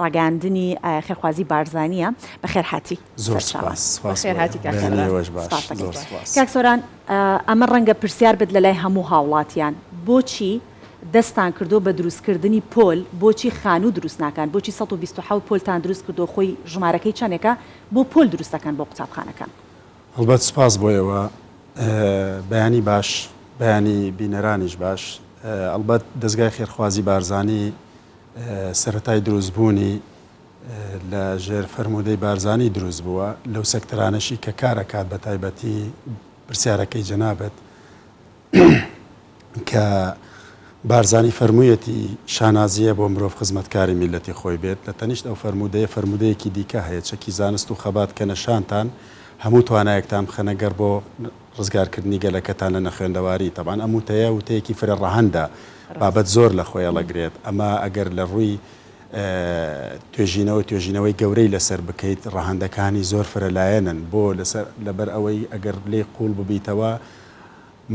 ڕاگەیاندنی خێرخوازی بارزانیە بەخێرهاتی سەرچاوە. کاک سۆران ئەمە ڕەنگە پرسیار بێت لەلای هەموو هاوڵاتیان بۆچی دەستان کردوە بە دروست کردنی پۆل بۆچی خانوو دروست ناکان بۆچی سەد و بیست و حەوت پۆلتان دروست کردوە خۆی ژمارەکەی چەنێکە بۆ پۆل دروست دەکەن بۆ قوتابخانەکان. هەڵبەت سوپاس بۆ ئێوە بەیانی باش بەیانی بینەرانیش باش ئەڵبەت دەزگای خێرخوازی بارزانی. سەرەتای دروست بوونی لە ژێر فەرموودەی بارزانی دروست بووە لەو سێکتەرانەشی کە کار ئەکات بە تایبەتی پرسیارەکەی جەنابت کە بارزانی فەرموویەتی شانازییە بۆ مرۆڤ خزمەتکاری میللەتی خۆی بێت لە تەنیشت ئەو فەرموودەیە فەرموودەیەکی دیکە هەیە چەکی زانست و خەبات کەنە شانتان هەموو توانایەکتان بخەنە گەڕ بۆ ڕزگارکردنی گەلەکەتان لە نەخوێندەواری، تەبعەن ئەم وتەیە وتەیەکی فرە ڕەهەندە، بابەت زۆر لە خۆی ئەڵەگرێت، ئەمە ئەگەر لە ڕووی توێژینەوە توێژینەوەی گەورەی لەسەر بکەیت ڕەهەندەکانی زۆر فرە لایەنن، بۆ؟ لەسەر لەبەر ئەوەی ئەگەر لێی قووڵ ببیتەوە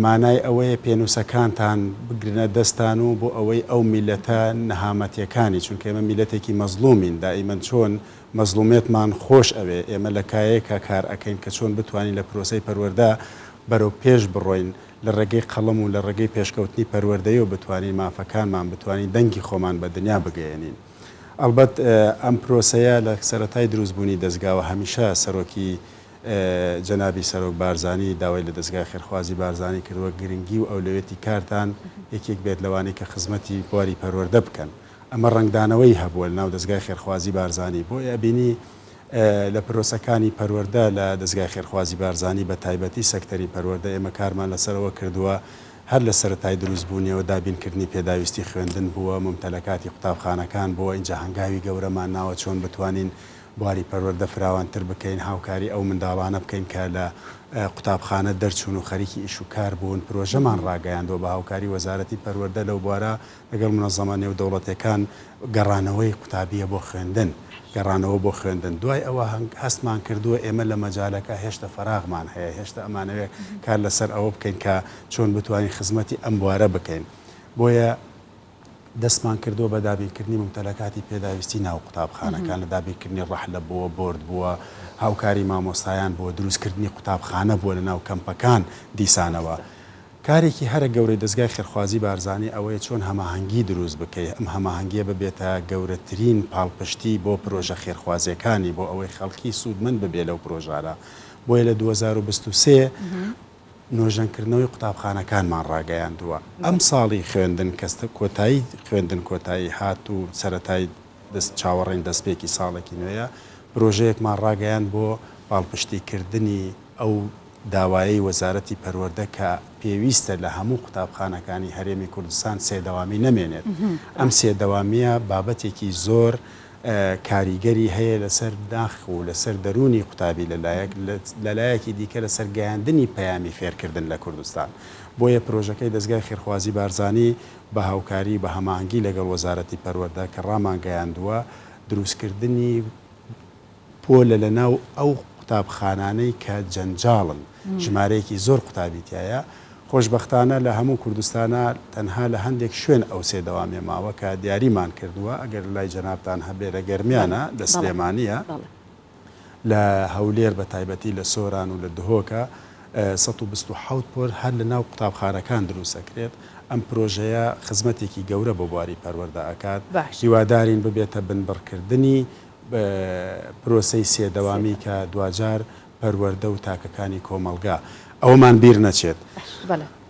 مانای ئەوەیە پێنووسەکانتان بگرنە دەستان و بۆ ئەوەی ئەو میللەتە نەهامەتیەکانی، چونکە ئێمە میللەتێکی مەزڵوومین دائیمەن چۆن مەزڵومیەتمان خۆش ئەوێ، ئێمە لە کایەیەکا کار ئەکەین کە چۆن بتوانین لە پرۆسەی پەروەردە بەرەو پێش بڕۆین، لە ڕێگەی قەڵەم و لە ڕێگەی پێشکەوتنی پەروەردەیەوە بتوانین مافەکانمان، بتوانین دەنگی خۆمان بە دنیا بگەیەنین. ئەڵبەت ئەم پرۆسەیە لە سەرەتای دروست بوونی دەزگاوە هەمیشە سەرۆکی جەنابی سەرۆک بارزانی داوای لە دەزگای خێرخوازی بارزانی کردووە گرنگی و ئەولەویەتی کارتان یەکێک بێت لەوانەی کە خزمەتی بواری پەروەردە بکەن. ئەمە ڕەنگدانەوەی هەبووە لەناو دەزگای خێرخوازی بارزانی بۆی ئەبینی لە پرۆسەکانی پەروەردە لە دەزگای خێرخوازی بارزانی بە تایبەتی سەکتەری پەروەردە ئێمە کارمان لەسەر ئەوە کردووە هەر لە سەرەتای دروست بوونیەوە دابین کردنی پێداویستی خوێندن بووە ممتەلەکاتی قوتابخانەکان بووە ئینجا هەنگاوی گەورەمان ناوە چۆن بتوانین بواری پەروەردە فراوانتر بکەین هاوکاری ئەو منداڵانە بکەین کە لە قوتابخانە دەرچوون و خەریکی ئیش و کار بوون پرۆژەمان ڕاگەیاندووە بە هاوکاری وەزارەتی پەروەردە لەو بوارە لەگەڵ مونەزەمە نێودەوڵەتیەکان گەڕانەوەی قوتابیە بۆ خوێندن، گەڕانەوە بۆ خوێندن دوای ئەوە هەستمان کردووە ئێمە لە مەجالەکە هێشتە فەراغمان هەیە هێشتە ئەمانەوێ کار لەسەر ئەوە بکەین کە چۆن بتوانین خزمەتی ئەم بوارە بکەین بۆیە دەستمان کردووە بە دابینکردنی ممتەلەکاتی پێداویستی ناو قوتابخانەکان لە دابینکردنی ڕەحلە بووە بۆرد بووە هاوکاری مامۆستایان بۆ دروستکردنی قوتابخانە بووە لە ناو کەمپەکان دیسانەوە کارێکی هەرە گەورەی دەزگای خێرخوازی بارزانی ئەوەیە چۆن هەماهەنگی دروست بکەی، ئەم هەماهەنگیە ببێتە گەورەترین پاڵپشتی بۆ پرۆژە خێرخوازیەکانی بۆ ئەوەی خەڵکی سوودمەند ببێ لەو پرۆژانە، بۆیە لە دوو هەزار و بیست و سێ نۆژەنکردنەوەی قوتابخانەکانمان ڕاگەیاندووە، ئەمساڵی خوێندن کە کۆتایی خوێندن کۆتایی هات و سەرەتای دەست چاوەڕێین دەستپێکی ساڵێکی نوێیە، پرۆژەیەکمان ڕاگەیاند بۆ پاڵپشتیکردنی ئەو داوایەی وەزارەتی پەروەردە کە پێویستە لە هەموو قوتابخانەکانی هەرێمی کوردستان سێ دەوامی نەمێنێت، ئەم سێ دەوامییە بابەتێکی زۆر کاریگەری هەیە لەسەر ناخ و لەسەر دەروونی قوتابی لەلایەک، لەلایەکی دیکە لەسەر گەیاندنی پەیامی فێرکردن لە کوردستان، بۆیە پرۆژەکەی دەزگای خێرخوازی بارزانی بە هاوکاری و بە هەماهەنگی لەگەڵ وەزارەتی پەروەردە کە ڕامانگەیاندووە دروستکردنی پۆلە لە ناو ئەو قوتابخانانەی کە جەنجاڵن ژمارەیەکی زۆر قوتابی تیایە خۆشبەختانە لە هەموو کوردستانا تەنها لە هەندێک شوێن ئەو سێ دەوامیە ماوە کە دیاریمان کردووە ئەگەر لای جەنابتان هەبێ لە گەرمیانە لە سلێمانیە لە هەولێر بە تایبەتی لە سۆران و لە دهۆکە سەد و بیست و حەوت پۆل هەر لە ناو قوتابخانەکان دروست ئەکرێت، ئەم پرۆژەیە خزمەتێکی گەورە بۆ بواری پەروەردە ئەکات، هیوادارین ببێتە بنبڕکردنی پرۆسەی سێ دەوامی کە دواجار پەروەردە و تاکەکانی کۆمەڵگا ئەوەمان بیر نەچێت.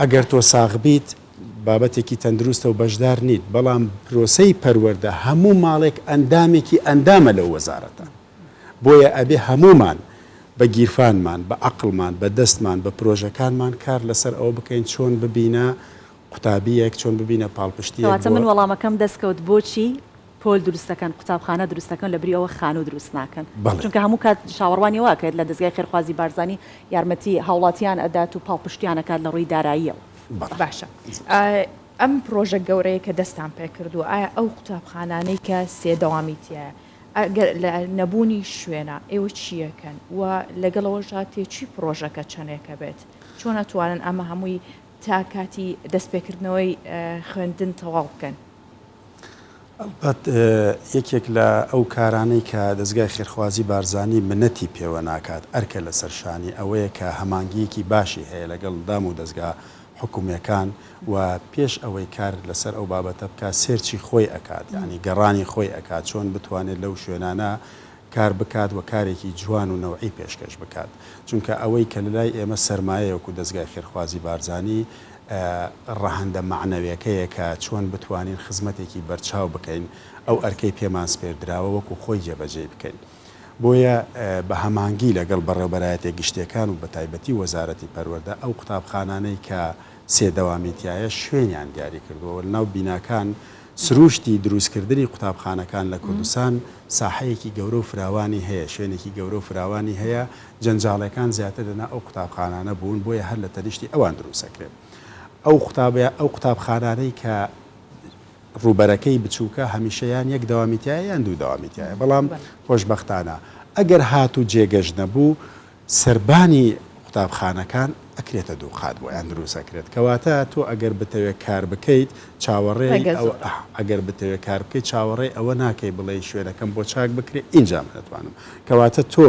ئەگەر تۆ ساغ بیت بابەتێکی تەندروستە و بەشدار نیت، بەڵام پرۆسەی پەروەردە هەموو ماڵێک ئەندامێکی ئەندامە لەو وەزارەتە، بۆیە ئەبێ هەموومان بە گیرفانمان، بە عەقڵمان، بە دەستمان، بە پرۆژەکانمان کار لەسەر ئەوە بکەین چۆن ببینە قوتابییەک، چۆن ببینە پاڵپشتییەک بۆ. کەواتە من وەڵامەکەم دەستکەوت بۆچی؟ پۆل دروست دەکەن قوتابخانە دروست دەکەن لەبری ئەوە خانوو دروست ناکەن چونکە هەموو کات شاوەڕوانی واکرێت لە دەزگای خێرخوازی بارزانی یارمەتی هاوڵاتیان ئەدات و پاڵپشتیان ئەکات لە ڕووی داراییەوە. باشە ئەم پرۆژە گەورەیە کە دەستان پێ کردووە ئایا ئەو قوتابخانانەی کە سێ دەوامی تایە ئەگەر لە نەبوونی شوێنە ئێوە چیەکەن و لەگەڵەوەشا تێچوی پرۆژەکە چەندێکە بێت چۆن ئەتوانن ئەمە هەمووی تا کاتی دەستپێکردنەوەی خوێندن تەواو بکەن؟ ئەڵبەت یەکێک لە ئەو کارانەی کە دەزگای خێرخوازی بارزانی منەتی پێوە ناکات ئەرکە لەسەر شانی ئەوەیە کە هەمانگییەکی باشی هەیە لەگەڵ دام و دەزگا حکومیەکان و پێش ئەوەی کار لەسەر ئەو بابەتە بکات سێرچی خۆی ئەکات یانی گەڕانی خۆی ئەکات چۆن بتوانێت لەو شوێنانە کار بکات و کارێکی جوان و نەوعی پێشکەش بکات چونکە ئەوەی کە لەلای ئێمە سەرمایەیە وەکو دەزگای خێرخوازی بارزانی ڕەهەندە مەعنەوێکەیە کە چۆن بتوانین خزمەتێکی بەرچاو بکەین ئەو ئەرکەی پێمان سپێردراوە وەکو خۆی جێبەجێی بکەین بۆیە بە هەمانگی لەگەڵ بەڕێوبەرایەتیە گشتیەکان و بەتایبەتی وەزارەتی پەروەردە ئەو قوتابخانانەی کە سێ دەوامی تیایە شوێنیان دیاری کردووە و لەناو بیناکان سروشتی دروستکردنی قوتابخانەکان لە کوردستان ساحەیەکی گەورە و فراوانی هەیە شوێنێکی گەورە و فراوانی هەیە جەنجاڵیەکان زیاتر لە ناو ئەو قوتابخانانە بوون بۆیە هەر لە تەنیشتی ئەوان دروست ئەکرێن ئەو قوتابە ئەو قوتابخانانەی کە ڕووبەرەکەی بچووکە هەمیشە یان یەک دەوامی تایە یان دوو دەوامی تایە بەڵام خۆشببختانە ئەگەر هات و جێگەش نەبوو سربانی قوتابخانەکان ئەکرێتە دوو قات بۆ یان دروست ئەکرێت کەواتە تۆ ئەگەر بتەوێت کار بکەیت چاوەڕێ ئەگەر بتەوێت کار بکەیت چاوەڕێ ئەوە ناکەی بڵێ شوێنەکەم بۆ چاک بکرێت ئینجام ناتوانم کەواتە تۆ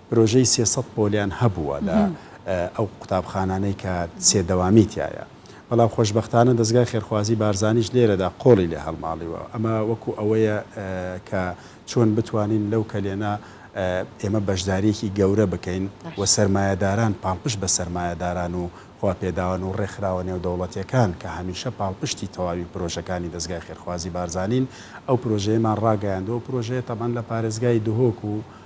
پرۆژەی سێ سەد پۆلیان هەبووە لە ئەو قوتابخانانەی کە سێ دەوامی تیایە، بەڵام خۆشبەختانە دەزگای خێرخوازی بارزانیش لێرەدا قۆڵی لێ هەڵماڵیوە، ئەمە وەکو ئەوەیە کە چۆن بتوانین لەو کەلێنە ئێمە بەشداریەکی گەورە بکەین و سەرمایەداران پاڵپشت بە سەرمایەداران و خواپێداوان و ڕێکخراوە نێودەوڵەتیەکان کە هەمیشە پاڵپشتی تەواوی پرۆژەکانی دەزگای خێرخوازی بارزانین ئەو پرۆژەیەمان ڕاگەیاندوە، ئەو پرۆژەیە تەبعەن لە پارێزگای دهۆک و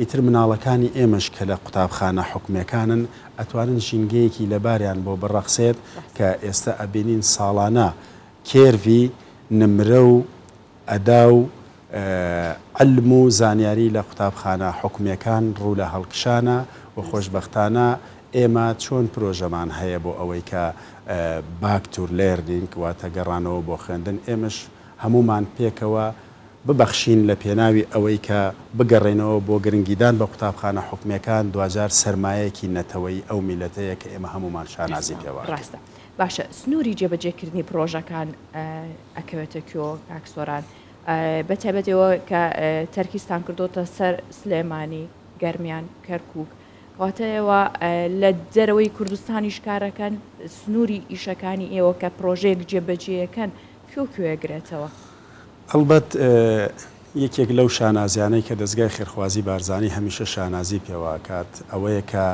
ئیتر مناڵەکانی ئێمەش کە لە قوتابخانە حکومیەکانن ئەتوانن ژینگەیەکی لەباریان بۆ بڕەخسێت کە ئێستە ئەبینین ساڵانە کێرڤی نمرە و ئەدا و عیلم و زانیاری لە قوتابخانە حکومیەکان ڕوو لە هەڵکشانە و خۆشبەختانە ئێمە چۆن پرۆژەمان هەیە بۆ ئەوەی کە باک تور لێرنینگ واتە گەڕانەوە بۆ خوێندن ئێمەش هەموومان پێکەوە ببەخشین لە پێناوی ئەوەی کە بگەڕێینەوە بۆ گرنگیدان بە قوتابخانە حکومیەکان دواجار سەرمایەیەکی نەتەوەیی ئەو میلەتەیە کە ئێمە هەموومان شانازی پێوە ئەکەین. ڕاستە باشە سنوری جێبەجێکردنی پڕۆژەکان ئەکەوێتە کوێوە کاک سۆران بە تایبەت ئێوە کە تەرکیزتان کردۆتە سەر سلێمانی گەرمیان کەرکوک کەواتە ئێوە لە دەرەوەی کوردستانیش کارەکەن سنوری ئیشەکانی ئێوە کە پڕۆژەیەک جێبەجێیەکەن کوێ و کوێ ئەگرێتەوە؟ ئەڵبەت یەکێک لەو شانازیانەی کە دەزگای خێرخوازی بارزانی هەمیشە شانازی پێوە ئەکات ئەوەیە کە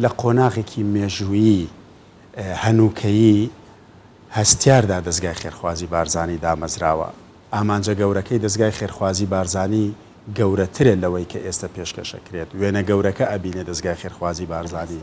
لە قۆناغێکی مێژوویی هەنووکەیی هەستیاردا دەزگای خێرخوازی بارزانی دامەزراوە. ئامانجە گەورەکەی دەزگای خێرخوازی بارزانی گەورەترە لەوەی کە ئێستە پێشکەش ئەکرێت. وێنە گەورەکە ئەبینێ دەزگای خێرخوازی بارزانی.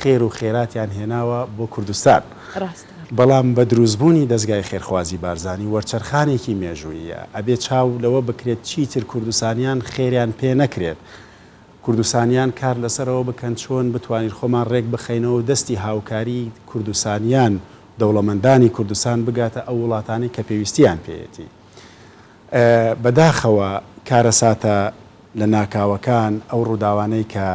خێر و خێراتیان هێناوە بۆ کوردستان. ڕاستە. بەڵام بە دروستبوونی دەزگای خێرخوازی بارزانی وەرچەرخانێکی مێژووییە. ئەبێ چاو لەوە بکرێت چیتر کوردستانیان خێریان پێ نەکرێت. کوردستانیان کار لەسەرەوە بکەن چۆن بتوانین خۆمان ڕێک بخەینەوە و دەستی هاوکاری کوردستانیان، دەوڵەمەندانی کوردستان بگاتە ئەو وڵاتانەی کە پێویستیان پێیەتی. بەداخەوە کارەساتە لە ناکاوەکان ئەو ڕووداوانەی کە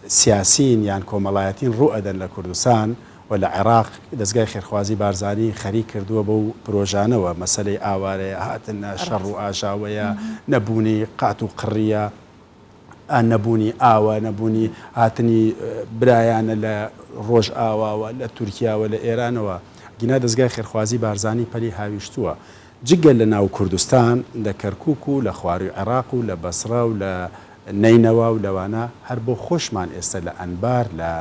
سیاسین یان کۆمەڵایەتین ڕوو ئەدەن لە کوردستان و لە عێراق دەزگای خێرخوازی بارزانی خەریک کردووە بەو پرۆژانەوە مەسەلەی ئاوارەیە هاتن نە شەڕ و ئاژاوەیە نە بوونی قات و قڕیە ئا نەبوونی ئاوە نەبوونی هاتنی برایانە لە ڕۆژ ئاواوە لە تورکیاوە لە ئێرانەوە گینا دەزگای خێرخوازی بارزانی پەلی هاویشتووە جگە لە ناو کوردستان، لە کەرکووک و لە خوارووی عێڕاق و لە بەسڕە و لە نەینەوا و لەوانە، هەر بۆ خۆشمان ئێستە لە ئەنبار، لە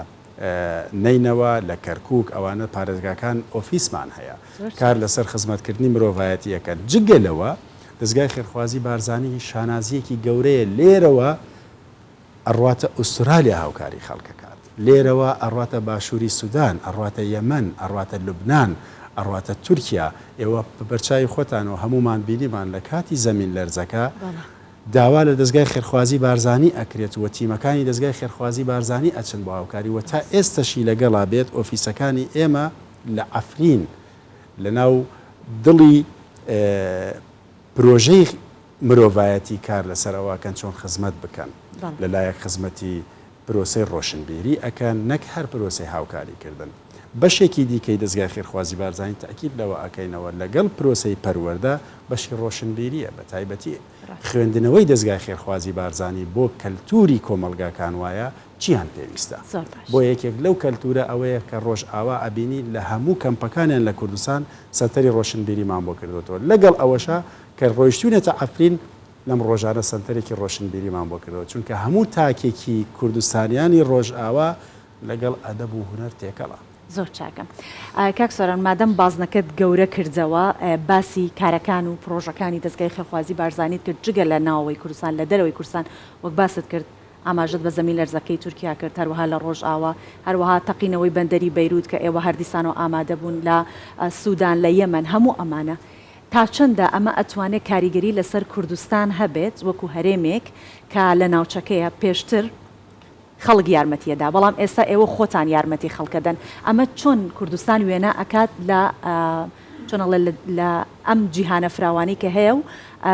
نەینەوا، لە کەرکووک، ئەوانە پارێزگاکان ئۆفیسمان هەیە، کار لەسەر خزمەتکردنی مرۆڤایەتی ئەکەن. جگە لەوە، دەزگای خێرخوازی بارزانی شانازییەکی گەورەیە لێرەوە، ئەڕواتە ئوسترالیا هاوکاری خەڵکەکات لێرەوە ئەڕواتە باشوری سودان ئەڕواتە یەمەن ئەڕواتە لوبنان ئەڕواتە تورکیا ئێوە بەبەرچاوی خۆتان و هەمومان بینیمان لەکاتی زەمین لەرزەکە داوا لە دەزگای خێرخوازی بارزانی ئەکرێت و تیمەکانی دەزگای خێرخوازی بارزانی ئەچن بۆ هاوکاری و تا ئێستەشی لەگەڵا بێت ئۆفیسەکانی ئێمە لە عەفرین لەناو دڵی پرۆژەی مرۆڤایەتی کار لەسەر ئەوە ئەکەن چۆن خزمەت بکەن لە لایەک خزمەتی پرۆسەی ڕۆشنبیری ئەکەن نەک هەر پرۆسەی هاوکاری کردن بەشێکی دیکەی دەزگای خێرخوازی بارزانی تەئکید لەوە ئەکەینەوە لەگەڵ پرۆسەی پەروەردە بەشی ڕۆشنبیریە بە تایبەتی خوێندنەوەی دەزگای خێرخوازی بارزانی بۆ کەلتوری کۆمەڵگاکان وایە چیان پێویستە بۆ یەکێک لەو کەلتورە ئەوەیە کە ڕۆژئاوا ئەبینی لە هەموو کەمپەکانیان لە کوردستان سەنتەری ڕۆشنبیریمان بۆ کردۆتەوە لەگەڵ ئەوەشا کە ڕۆیشتوینەتە عەفرین لەم ڕۆژانە سەنتەرێکی ڕۆشنبیریمان بۆ کردەوە، چونکە هەموو تاکێکی کوردستانیانی ڕۆژئاوا لەگەڵ ئەدەب و هونەر تێکەڵە. زۆر چاکە کاک سۆران مادەم بازنەکەت گەورە کردەوە باسی کارەکان و پرۆژەکانی دەزگای خێرخوازی بارزانیت کرد جگە لە ناوەوەی کوردستان لە دەرەوەی کوردستان وەک باست کرد ئاماژەت بە زەمین لەرزەکەی تورکیا کرد هەروەها لە ڕۆژئاوا هەروەها تەقینەوەی بەندەری بەیروت کە ئێوە هەر دیسانەوە ئامادەبوون لە سودان لە یەمەن هەموو ئەمانە تا چەندە ئەمە ئەتوانێت کاریگەری لەسەر کوردستان هەبێت وەکو هەرێمێک کە لە ناوچەکەیە، پێشتر خەڵک یارمەتیە دا بەڵام ئێستا ئێوە خۆتان یارمەتی خەڵکە دەن، ئەمە چۆن کوردستان وێنا ئەکات لە چۆن ئەڵێ لە ئەم جیهانە فراوانی کە هەیە و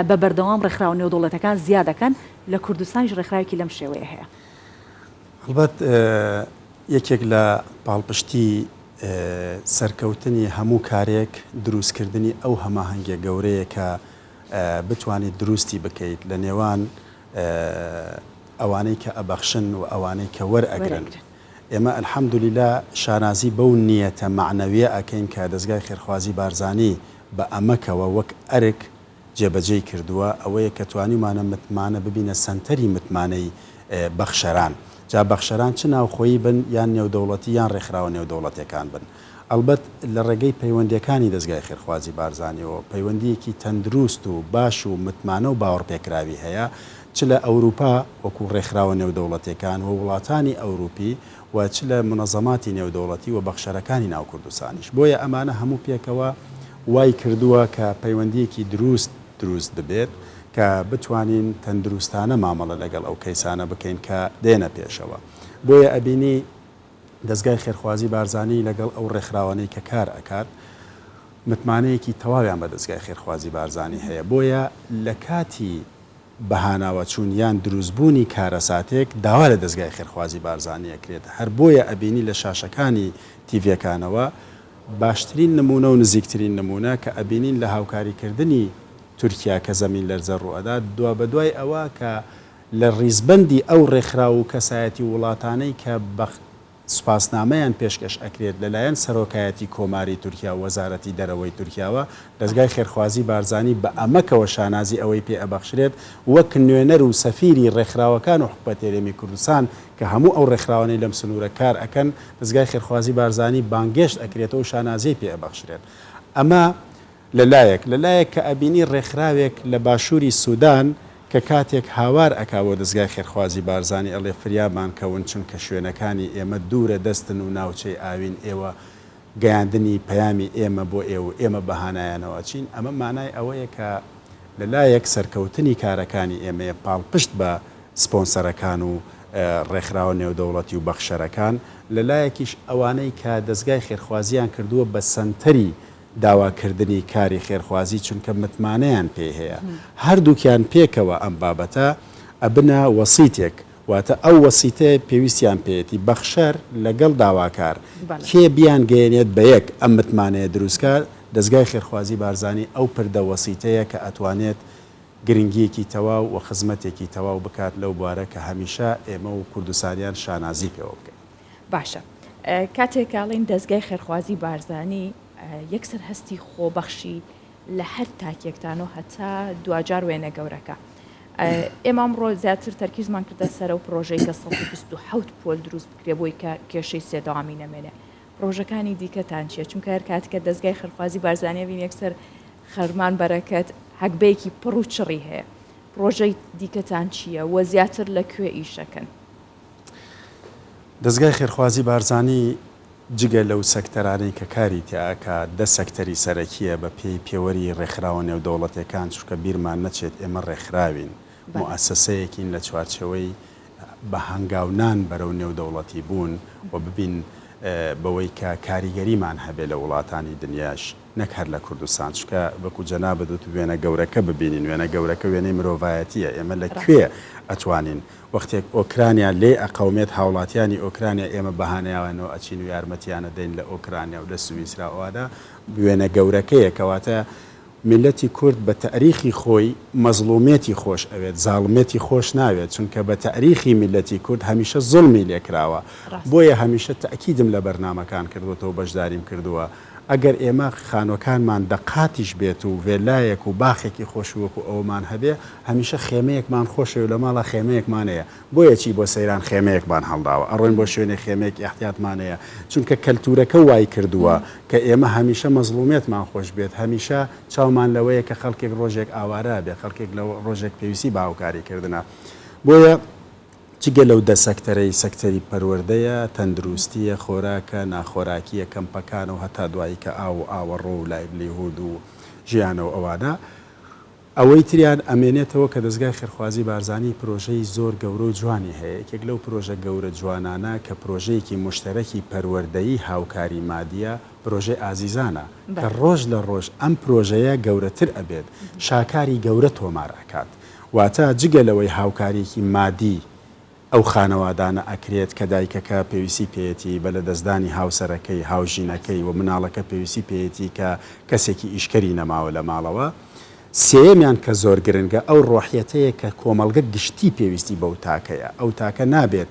بە بەردەوام ڕێکخراوە نێودەوڵەتەکان زیا دەکەن، لە کوردستانیش ڕێکخراوێکی لەم شێوەیە هەیە. ئەڵبەت یەکێک لە پاڵپشتی سەرکەوتنی هەموو کارێک دروستکردنی ئەو هەماهەنگیە گەورەیە کە بتوانیت دروستی بکەیت لە نێوان ئەوانەی کە ئەبەخشن و ئەوانەی کە وەرئەگرن ئێمە الحمدللە شانازی بەو نیەتە مەعنەویە ئەکەین کە دەزگای خێرخوازی بارزانی بە ئەمەکەوە وەک ئەرک جێبەجێی کردووە ئەوەیە کە توانیومانە متمانە ببینە سەنتەری متمانەی بەخشەران جا بەخشەران چ ناوخۆیی بن یان نێودەوڵەتی یان ڕێکخراوە نێودەوڵەتێکان بن ئەڵبەت لە ڕێگەی پەیوەندیەکانی دەزگای خێرخوازی بارزانیەوە پەیوەندیەکی تەندروست و باش و متمانە و باوەڕپێکراوی هەیە چ لە ئەوروپا وەکو ڕێکخراوە نێودەوڵەتێکان و وڵاتانی ئەوروپی و چ لە مونەزەماتی نێودەوڵەتی و بەخشەرەکانی ناو کوردستانیش، بۆیە ئەمانە هەموو پێکەوە وای کردووە کە پەیوەندییەکی دروست دروست ببێت کە بتوانین تەندروستانە مامەڵە لەگەڵ ئەو کەیسانە بکەین کە دێنە پێشەوە بۆیە ئەبینی دەزگای خێرخوازی بارزانی لەگەڵ ئەو ڕێکخراوانەی کە کار ئەکات متمانەیەکی تەواویان بە دەزگای خێرخوازی بارزانی هەیە بۆیە لە کاتی بە هاناوەچوون یان دروستبوونی کارەساتێک داوا لە دەزگای خێرخوازی بارزانی ئەکرێت، هەر بۆیە ئەبینی لە شاشەکانی تیڤیەکانەوە باشترین نموونە و نزیکترین نموونە کە ئەبینین لە هاوکاریکردنی تورکیا کە زەمین لەرزە ڕووئەدات دوابەدوای ئەوە کە لە ڕیزبەندی ئەو ڕێکخراو و کەسایەتی و وڵاتانەی کە بە سوپاسنامەیان پێشکەش ئەکرێت لەلایەن سەرۆکایەتی کۆماری تورکیا و وەزارەتی دەرەوەی تورکیاوە، دەزگای خێرخوازی بارزانی بە ئەمەکەوە شانازی ئەوەی پێ ئەبەخشرێت وەک نوێنەر و سەفیری ڕێکخراوەکان و حکومەت هەرێمی کوردستان کە هەموو ئەو ڕێکخراوانەی لەم سنوورە کار ئەکەن دەزگای خێرخوازی بارزانی بانگێشت ئەکرێتەوە و شانازیی پێ ئەبەخشرێت ئەمە لە لایەک لە لایەک کە ئەبینی ڕێکخراوێک لە باشووری سودان کە کاتێک هاوار ئەکا بۆ دەزگای خێرخوازی بارزانی ئەڵێ فریابان کەون چونکە شوێنەکانی ئێمە دوورە دەستن و ناوچەی ئاوین ئێوە گەیاندنی پەیامی ئێمە بۆ ئێو و ئێمە بە هانایانەوە ئەچین ئەمە مانای ئەوەیە کە لە لایەک سەرکەوتنی کارەکانی ئێمەیە پاڵپشت بە سپۆنسەرەکان و ڕێکخراوە نێودەوڵەتی و بەخشەرەکان لە لایەکیش ئەوانەی کە دەزگای خێرخوازیان کردووە بە سەنتەری داواکردنی کاری خێرخوازی چونکە متمانەیان پێی هەیە هەردووکیان پێکەوە ئەم بابەتە ئەبنە وەسیتێک واتە ئەو وەسیتەیە پێویستیان پێیەتی بەخشەر لەگەڵ داواکار کێ بیان گەیەنێت بەیەک ئەم متمانەیە دروستکا دەزگای خێرخوازی بارزانی ئەو پردە وەسیتەیە کە ئەتوانێت گرنگیەکی تەواو وخزمەتێکی تەواو بکات لەو بوارە کە هەمیشە ئێمە و کوردستانیان شانازی پێوە بکەین. باشە کاتێک ئاڵین دەستگای خێرخوازی بارزانی یەکسەر هەستی خۆبەخشی لە هەر تاکێکتان و هەتا دوجار وێنە گەورەکە. ئێمە ئەمڕۆ زیاتر تەرکیزمان کردە سەرە و پرۆژەی کە 1970 پۆل دروست بکرێ بۆی کە کێشەی سێداوامی نەمێنێ پرۆژەکانی دیکەتان چیە چونکە هەر کاتکە دەستگای خەرخوازی بارزانانیە بین یەکسەر خەرمان بەرەکەت حەگبەیەکی پڕ و چڕی هەیە پرۆژەی دیکەتان چییە وە زیاتر لە کوێ ئیشەکەن دەزگای خێرخوازی بارزانی جگە لەو سەکتەرانەی کە کاری تیا ئەکا دە سەکتەری سەرەکیە بە پێی پێوەری رێکخراوە نێودەوڵەتێکان چونکە بیرمان نەچێت ئێمە رێکخراوین موئەسەسەیەکین لە چوارچێوەی بە هەنگاو نان بەرەو نێودەوڵەتی بوون و ببین بەوەی کە کاریگەریمان هەبێ لە وڵاتانی دنیاش نەک هەر لە کوردستان چونکە وەکو جەنابت وت وێنە گەورەکە ببینین وێنە گەورەکە وێنەی مرۆڤایەتیە ئێمە لە کوێ ئەتوانین وەختێک ئۆکرانیا لێی ئەقەومێت هاوڵاتیانی ئۆکرانیا ئێمە بەهانایانەوە ئەچین و یارمەتیان ئەدەین لە ئۆکرانیا و لە سویسرا ئەوادە بوێنە گەورەکەیە کەواتە میللەتی کورد بە تاریخی خۆی مەزڵومێتی خۆش ئەوێت زاڵمێتی خۆش ناوێت چونکە بە تاریخی میللەتی کورد هەمیشە زوڵمی لێکراوە بۆیە هەمیشە تاکیدم لە بەرنامەکان کردوەتەوە بەشداریم کردوە ئەگەر ئێمە خانووەکانمان دە قاتیش بێت و ڤێلایەک و باخێکی خۆش وەکو ئەومان هەبێ، هەمیشە خێمەیەکمان خۆشەوێ و لە ماڵا خێمەیەکمان هەیە، بۆیە چی بۆ سەیران خێمەیەکمان هەڵداوە، ئەڕۆین بۆ شوێنێک خێمەیەک ئیحتیاتمان هەیە، چونکە کەلتوورەکە وای کردووە کە ئێمە هەمیشە مەزڵوومیەتمان خۆش بێت، هەمیشە چاومان لەوەیە کە خەڵکێک ڕۆژێک ئاوارە ئەبێ، خەڵکێک لە ڕۆژێک پێویستی بە هاوکاری کردنە. بۆیە. جگە لەو دە سەکتەرەی سەکتەری پەروەردەیە، تەندروستییە، خۆراکە، ناخۆراکییە، کەمپەکان و هەتا دوایی کە ئاو و ئاوەڕۆ و لایڤلیهود و ژیانە و ئەوانە، ئەوەی تریان ئەمێنێتەوە کە دەزگای خێرخوازی بارزانی پرۆژەی زۆر گەورە و جوانی هەیە، یەکێک لەو پرۆژە گەورە جوانانە کە پرۆژەیەکی موشتەرەکی پەروەردەیی هاوکاری مادییە، پرۆژەی ئازیزانە کە ڕۆژ لە ڕۆژ ئەم پرۆژەیە گەورەتر ئەبێت، شاکاری گەورە تۆمار ئەکات. واتە جگە لەوەی هاوکاریەکی مادی ئەو خانەوادانە ئەکرێت کە دایکەکە پێویستی پێیەتی بە لەدەستدانی هاوسەرەکەی، هاوژینەکەی، و مناڵەکە پێویستی پێیەتی کە کەسێکی ئیشکەری نەماوە لە ماڵەوە. سێیەمیان کە زۆر گرنگە ئەو ڕۆحیەتەیە کە کۆمەڵگە گشتی پێویستی بەو تاکەیە، ئەو تاکە نابێت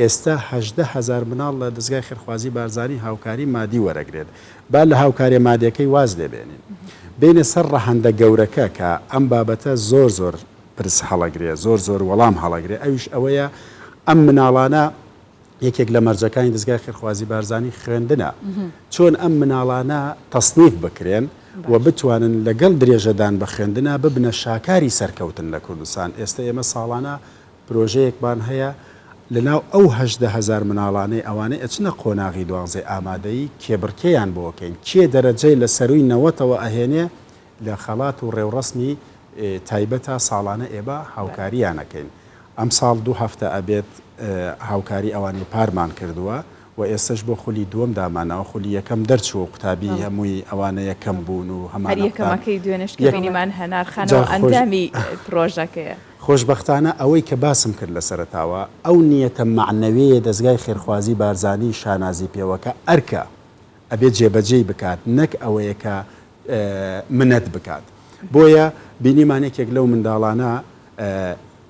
ئێستا هەژدە هەزار مناڵ لە دەزگای خێرخوازی بارزانی هاوکاری مادی وەرەگرێت با لە هاوکاریە مادێکەی واز لێ بێنین بێینە سەر ڕەهەندە گەورەکە کە ئەم بابەتە زۆر زۆر پرس هەڵەگرێ زۆر زۆر وەڵام هەڵەگرێ ئەویش ئەوەیە ئەم مناڵانە یەکێک لە مەرجەکانی دەزگای خێرخوازی بارزانی خوێندنە چۆن ئەم مناڵانە تەسنیف بکرێن و بتوانن لەگەڵ درێژەدان بە خوێندنا ببنە شاکاری سەرکەوتن لە کوردستان ئێستە ئێمە ساڵانە پرۆژەیەکمان هەیە لەناو ئەو هەژدە هەزار مناڵانەی ئەوانەی ئەچنە قۆناغی دوانزەی ئامادەیی کێبڕکێیان بۆ کەین کێ دەرەجەی لە سەرووی نەوەتەوە ئەهێنێ لە خەڵات و ڕێوڕەسمی تایبەتا ساڵانە ئێبە هاوکاریان ئەکەین ئەمساڵ دوو هەفتە ئەبێت هاوکاری ئەوانی پارمان کردووە و ئێستەش بۆ خولی دووەم داماناوە خولی یەکەم دەرچووە و قوتابی هەمووی ئەوانە یەکەم بوون و هەمان هەر یەکەمەکەی دوێنێش کە بینیمان هەنار خانەوە ئەندامی پرۆژەکەیە. خۆشبەختانە ئەوەی کە باسم کرد لە سەرەتاوە ئەو نیەتە مەعنەوێیە دەزگای خێرخوازی بارزانی شانازی پێوە کە ئەرکە ئەبێ جێبەجێی بکات نەک ئەوەیە کە منەت بکات بۆیە بینیمان یەکێک لەو منداڵانە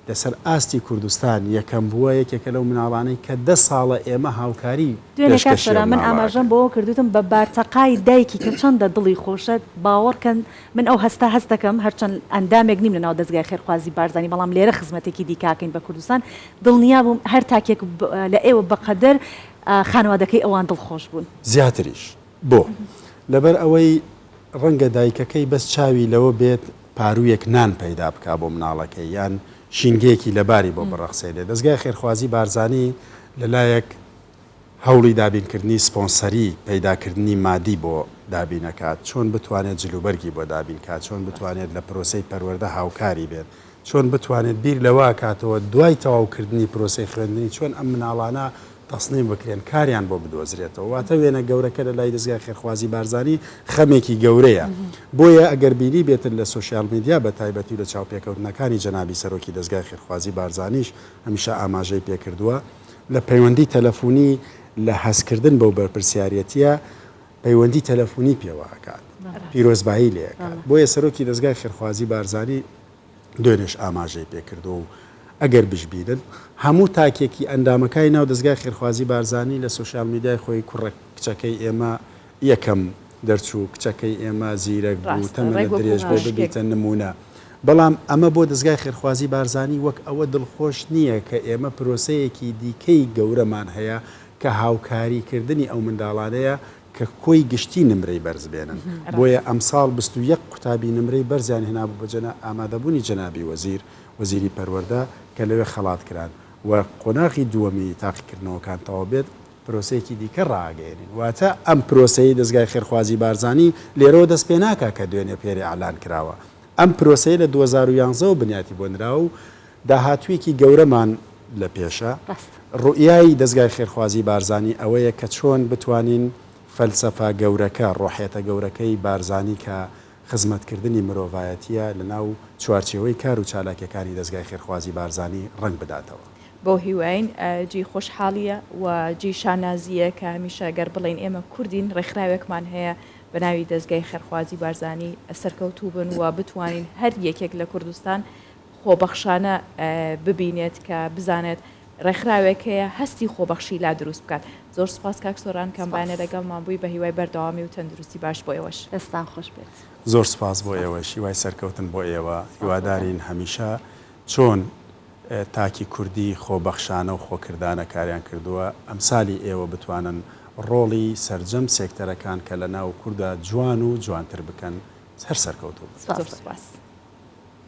لەسەر ئاستی کوردستان یەکەم بووە، یەکێکە لەو مناڵانەی کە دە ساڵە ئێمە هاوکاری دوێنێ کاک پێشکەشی ئەم سۆران من ماڵە ئاماژەم ئەکەن. بەوە کرد وتم بە بارتەقای دایکی کە چەندە دڵی خۆشە باوەڕکەن من ئەو هەستە هەست دەکەم هەرچەند ئەندامێک نیم لەناو دەزگای خێرخوازی بارزانی بەڵام لێرە خزمەتێکی دیکاکەین بە کوردستان دڵنیا بووم هەر تاکێک لە ئێوە بەقەدەر خانەوادەکەی ئەوان دڵخۆش بوون. زیاتریش بۆ؟ لەبەر ئەوەی ڕەنگە دایکەکەی بەس چاوی لەوە بێت پاروویەک نان پەیدا بکا بۆ مناڵەکەی یان شینگەیەکی لەباری بۆ بڕەخسێنێ. دەزگای خێرخوازی بارزانی لە لایەک هەوڵی دابین کردنی سپۆنسەری، پەیدا کردنی مادی بۆ دابین ئەکات، چۆن بتوانێت جلوبەرگی بۆ دابین کا، چۆن بتوانێت لە پرۆسەی پەروەردە هاوکاری بێت، چۆن بتوانێت بیر لەوە کاتەوە دوای تەواو کردنی پرۆسەی خوێندنی چۆن ئەم مناڵانە تەسنیم بکرێن کاریان بۆ بدۆزرێتەوە واتە وێنە گەورەکە لە لای دەزگای خێرخوازی بارزانی خەمێکی گەورەیە بۆیە ئەگەر بینیبێتن لە سۆشیال میدیا بە تایبەتی و لە چاوپێکەوتنەکانی جەنابی سەرۆکی دەزگای خێرخوازی بارزانیش هەمیشە ئاماژەی پێکردووە لە پەیوەندی تەلەفونی لە هەستکردن بەو بەرپرسیاریەتیە پەیوەندی تەلەفونی پێوە ئەکات پیرۆزبایی لێ ئەکات بۆیە سەرۆکی دەزگای خێرخوازی بارزانی دوێنێش ئاماژەی پێکردووە و ئەگەر بشبینن هەموو تاکێکی ئەندامەکای ناو دەزگای خێرخوازی بارزانی لە سۆشیال میدیای خۆی کوڕە کچەکەی ئێمە یەکەم دەرچوو، کچەکەی ئێمە زیرەک بوو، ڕاستە ڕێک تەمەنت وەکو درێژ بێ مشکێک. ببیتە نموونە. بەڵام ئەمە بۆ دەزگای خێرخوازی بارزانی وەک ئەوە دڵخۆش نییە کە ئێمە پرۆسەیەکی دیکەی گەورەمان هەیە کە هاوکاریکردنی ئەو منداڵانەیە کە کۆی گشتی نمرەی بەرز بێنن، بۆیە ئەمساڵ بیست و یەک قوتابی نمرەی بەرزیان هێنابوو بە جەنا ئامادەبوونی جەنابی وەزیر، وەزیری پەروەردە، کە لەوێ خەڵات کران و قۆناغی دووەمی تاقیکردنەوەکان تەواو بێت پرۆسەیەکی دیکە ڕائەگەیەنین، واتە ئەم پرۆسەیەی دەزگای خێرخوازی بارزانی لێرەوە دەست پێ ناکا کە دوێنێ پێرێ ئیعلان کراوە، ئەم پرۆسەیە لە دوو هەزار و یانزە وە بنیاتی بۆ نراوە و داهاتوویەکی گەورەمان لە پێشە. ڕاستە. ڕوئیای دەزگای خێرخوازی بارزانی ئەوەیە کە چۆن بتوانین فەلسەفە گەورەکە، ڕۆحیەتە گەورەکەی بارزانی کە خزمەتکردنی مرۆڤایەتیە لە ناو چوارچێوەی کار و چالاکیەکانی دەزگای خێرخوازی بارزانی ڕەنگ بداتەوە. بەو هیوایەین. جێی خۆشحاڵیە و جێی شانازیە کە هەمیشە گەر بڵێین ئێمە کوردین ڕێکخراوێکمان هەیە بە ناوی دەزگای خێرخوازی بارزانی سەرکەوتوو بن و بتوانین هەر یەکێک لە کوردستان خۆبەخشانە ببینێت کە بزانێت ڕێکخراوێک هەیە هەستی خۆبەخشی لا دروست بکات زۆر سپاس کاک سۆران کە ئەم بەیانە لەگەڵمان بووی بە هیوای بەردەوامی و تەندروستی باش بۆ ئێوەش. دەستان خۆش بێت. زۆر سپاس بۆ ئێوەش هیوای سەرکەوتن بۆ ئێوە هیوادارین هەمیشە چۆن تاکی کوردی خۆبەخشانە و خۆکردانە کاریان کردووە ئەمسالی ئێوە بتوانن ڕۆڵی سەرجەم سێکتەرەکان کە لەناو کوردا جوان و جوانتر بکەن هەر سەرکەوتوو بن. زۆر سپاس.